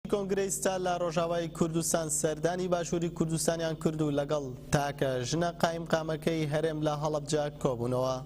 کۆنگرەی ستار لە ڕۆژاوای کوردستان سەردانی باشووری کوردستانیان کرد و لەگەڵ تاکە ژنە قایمقامەکەی هەرێم لە هەڵەبجە کۆبوونەوە.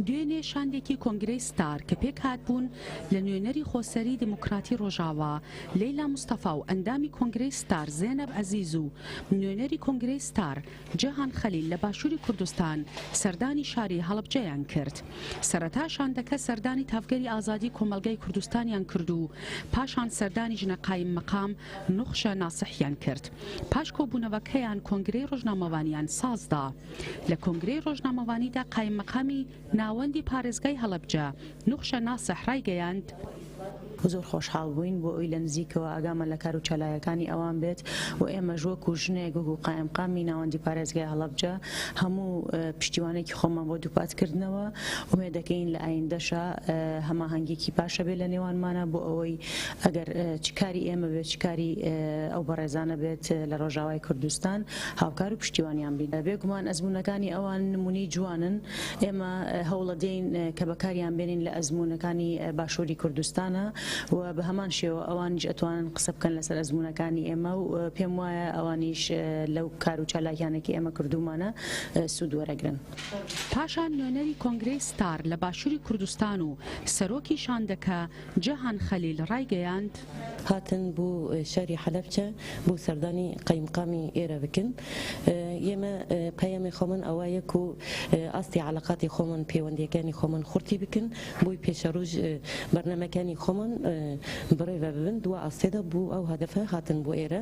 دوێنێ شاندێکی کۆنگرەی ستار کە پێکهاتبوون لە نوێنەری خۆسەری دیموکراتی ڕۆژاوا لەیلا مستەفا و ئەندامی کۆنگرەی ستار زێنەب عەزیز و نوێنەری کۆنگرەی ستار جەهان خەلیل لە باشووری کوردستان سەردانی شاری هەڵەبجەیان کرد. سەرەتا شاندەکە سەردانی تاڤگەری ئازادی کۆمەڵگای کوردستانیان کرد و پاشان سەردانی ژنە قایم مەقام نوخشە ناسحیان کرد. پاش کۆبوونەوەکەیان کۆنگرەی ڕۆژنامەوانیان سازدا. لە کۆنگرەی ڕۆژنامەوانیدا قایم مەقامی. ناوەندی پارێزگای هەڵەبجە، نوخشە ناسح ڕایگەیاند، زۆر خۆشحاڵ بووین بۆ ئەوی لە نزیکەوە ئاگامان لە کارو چالاێەکانی ئەوان بێت و ئێمەش وەکو ژنێک وەکو قائمقامی ناوەندی پارێزگای هەڵەبجە هەموو پشتیوانێکی خۆمان بۆ دووپات کردنەوە ئومێدەکەین لە ئایندەشا هەماهەنگیەکی باشە بێت لە نێوانمانا بۆ ئەوەی ئەگەر چ کاری ئێمە بێت چ کاری ئەو بەڕێزانە بێت لە ڕۆژاوای کوردستان هاوکار و پشتیوانیان بین. بێ گومان ئەزموونەکانی ئەوان نموونەی جوانن، ئێمە هەوڵەدەین کە بەکاریان بێنین لە ئەزموونەکانی باشووری کوردستانا و بە هەمان شێوە ئەوانیش ئەتوانن قسە بکەن لەسەر ئەزموونەکانی ئێمە و پێم وایە ئەوانیش لەو کار و چالاکیانەی کە ئێمە کردوومانە سوود وەرەگرن. پاشان نوێنەری کۆنگرەی ستار لە باشووری کوردستان و سەرۆکی شاندەکە، جەهان خەلیل ڕایگەیاند، هاتن بو شاری حەلەبچە بو سەردانی قەیمقامی ئێرە بکن یێمە پەیامی خۆمان ئەوایە کو ئاستی عەلاقاتی خۆمان پێوەندیەکانی خۆمان خورتی بکن بوی پێشە روژ بەرنامەکانی خۆمان بڕێڤە ببن دوا ئاستێدا بو ئەو هەدەفە هاتن بو ئێرە.